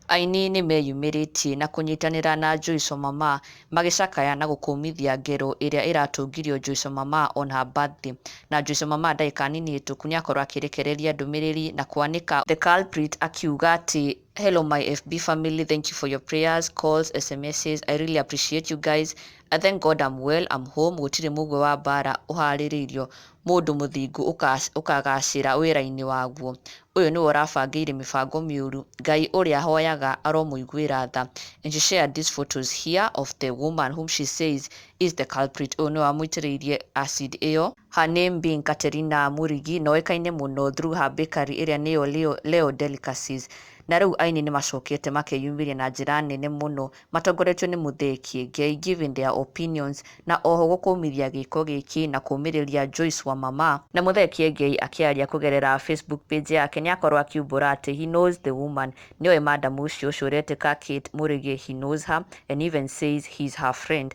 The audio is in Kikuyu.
Aini nĩ meyumĩrĩtie na kũnyitanĩra na Joyce Mama magĩcakaya na gũkũmithia ngero ĩrĩa ĩratũngirio Joyce Mama on her birthday. Na Joyce Mama ndagĩka nini hĩtũku nĩakorwo akĩrekereria ndũmĩrĩri na kwanĩka The Culprit akiuga atĩ Hello my FB family, thank you for your prayers, calls, SMSs. I really appreciate you guys. I thank God I'm well, I'm home, gũtirĩ mũgwe wa mbara ũharĩrĩirio mũndũ mũthingu ũkas- ũkagacĩra wĩra-inĩ waguo. Ũyũ nĩwe ũrabangĩire mĩbango mĩũru. Ngai ũrĩa hoyaga aromũiguĩra tha. And she shared these photos here of the woman whom she says is the culprit. Ũyũ nĩwe wamũitĩrĩirie acid ĩyo. Her name being Katerina Murigi, na oĩkaine mũno through her bakery ĩrĩa nĩyo Leo, Leo Delicacies. Na rĩu aini nĩmacokete makeyumĩria na njĩra nene mũno matongoretio nĩ Mũthee Kĩengei giving their opinions na oho gũkũmithia gĩĩko gĩkĩ na kũũmĩrĩria Joyce Wamama. Na Mũthee Kĩengei akĩaria kũgerera Facebook page yake nĩakorwo akiumbũra atĩ he knows the woman, nĩoĩ madam ũcio ũcio ũretĩka Kate Murigi, he knows her and even says he's her friend.